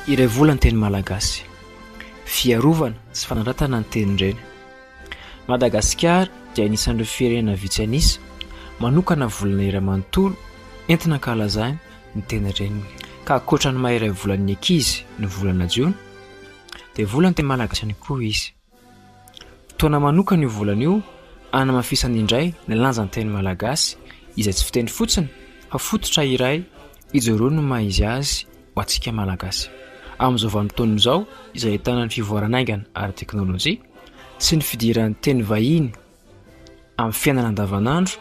Iray vola ny teny malagasy. Fiarovana sy fanandratana ny tenin-dreny. Madagasikara dia anisan'ireo firenena vitsy an'isa manokana volana iray manontolo entina ankalazany ny tenin-reniny. Ka ankoatra ny maha iray volan'ny ankizy ny volana jona dia volan'ny teny malagasy ihany koa izy. Fotoana manokana io volana io hanamafisana indray ny lanjan'ny teny malagasy izay tsy fiteny fotsiny fa fototra iray ijoroan'ny ny maha izy azy ho antsika malagasy. Amin'izao vanim-potoana izao izay ahitana ny fivoaran'ny haingana ara-teknolojia sy ny fidiran'ny teny vahiny. Amin'ny fiainana andavanandro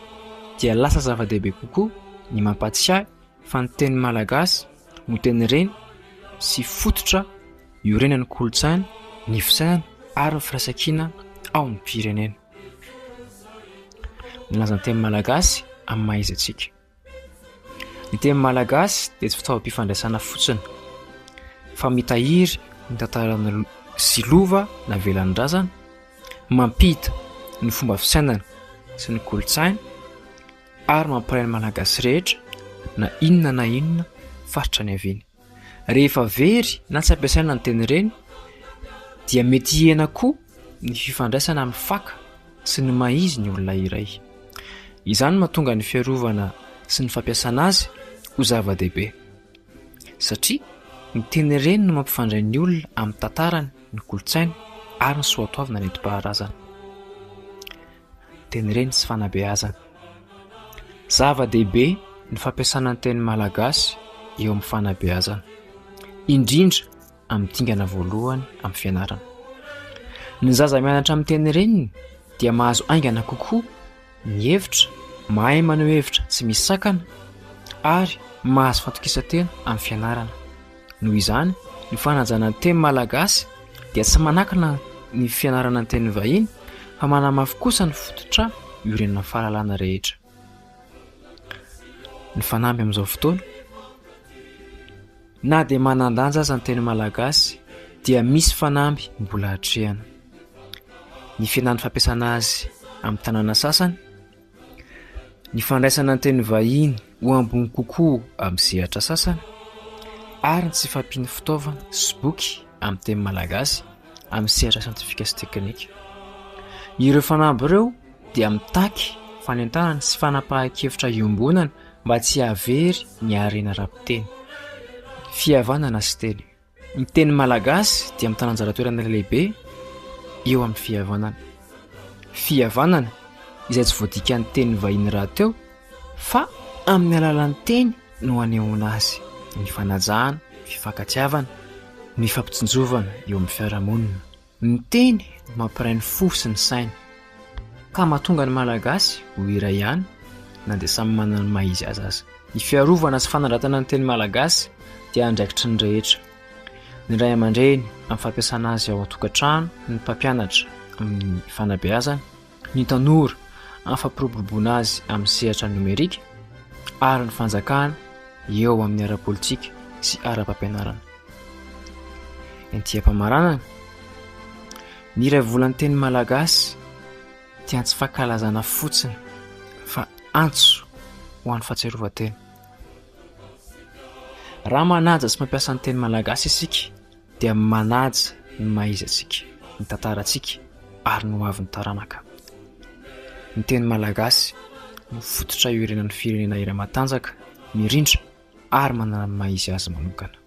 dia lasa zava-dehibe kokoa ny mampatsiahy fa ny teny malagasy no teny reny sy fototra iorenan'ny kolontsaina, ny fisainana ary ny firaisankina ao amin'ny firenena. Milaza ny teny malagasy amin'ny maha izy antsika. Ny teny malagasy dia tsy fitaovam-pifandraisana fotsiny fa mitahiry ny tantaran'ny sy lova navelan'ny razana, mampita ny fomba fisainana sy ny kolontsaina ary mampiray ny Malagasy rehetra na inona na inona faritra niaviany. Rehefa very na tsy ampiasaina ny teny ireny dia mety hihena koa ny fifandraisana amin'ny faka sy ny maha-izy ny olona iray. Izany no mahatonga ny fiarovana sy ny fampiasana azy ho zava-dehibe. Satria ny teny ireny no mampifandray ny olona amin'ny tantarany, ny kolontsainy ary ny soatoavina nentim-paharazana. Tenireny sy fanabeazana. Zava-dehibe ny fampiasana ny teny malagasy eo amin'ny fanabeazana, indrindra amin'ny dingana voalohany amin'ny fianarana. Ny zaza mianatra amin'ny tenireniny dia mahazo haingana kokoa ny hevitra, mahay maneho hevitra tsy misy sakana ary mahazo fatokisan-tena amin'ny fianarana. Noho izany, ny fanajana ny teny malagasy dia tsy manakana ny fianarana ny teny vahiny fa manamafy kosa ny fototra iorenan'ny fahalalana rehetra. Ny fanamby amin'izao fotoana, na dia manan-danja aza ny teny malagasy dia misy fanamby mbola atrehana. Ny fihenan'ny fampiasana azy amin'ny tanàna sasany. Ny fandraisana ny teny vahiny ho ambony kokoa amin'ny sehatra sasany ary ny tsy fampian'ny fitaovana sy boky amin'ny teny malagasy amin'ny sehatra siantifika sy teknika. Ireo fanamby ireo dia mitaky fanentanana sy fanapahan-kevitra iombonana mba tsy hahavery ny harena ara-piteny, fihavanana sy teny. Ny teny malagasy dia mitana anjara toerana lehibe eo amin'ny fihavanana. Fihavanana izay tsy voadikan'ny teny vahiny rahateo fa amin'ny alalan'ny teny no anehoana azy ny fanajana, fifankatiavana, ny fampitsinjovana eo amin'ny fiarahamonina. Ny teny no mampiray ny fo sy ny saina, ka mahatonga ny Malagasy ho iray ihany na dia samy manana ny maha-izy azy aza. Ny fiarovana sy fanandratana ny teny malagasy dia andraikitry ny rehetra, ny ray aman-dreny amin'ny fampiasana azy ao an-tokantrano, ny mpampianatra amin'ny fanabeazana, ny tanora hampiroboroboana azy amin'ny sehatra nomerika ary ny fanjakana eo amin'ny ara-politika sy ara-pampianarana. Ety am-pamaranana, ny iray volan'ny teny malagasy dia tsy fankalazana fotsiny fa antso ho an'ny fahatsiarovan-tena. Raha manaja sy mampiasa ny teny malagasy isika. dia manaja ny maha-izy-antsika, ny tantarantsika ary ny hoavin'ny taranaka. Ny teny malagasy no fototra iorenan'ny firenena iray matanjaka, mirindra ary manana ny maha-izy azy manokana.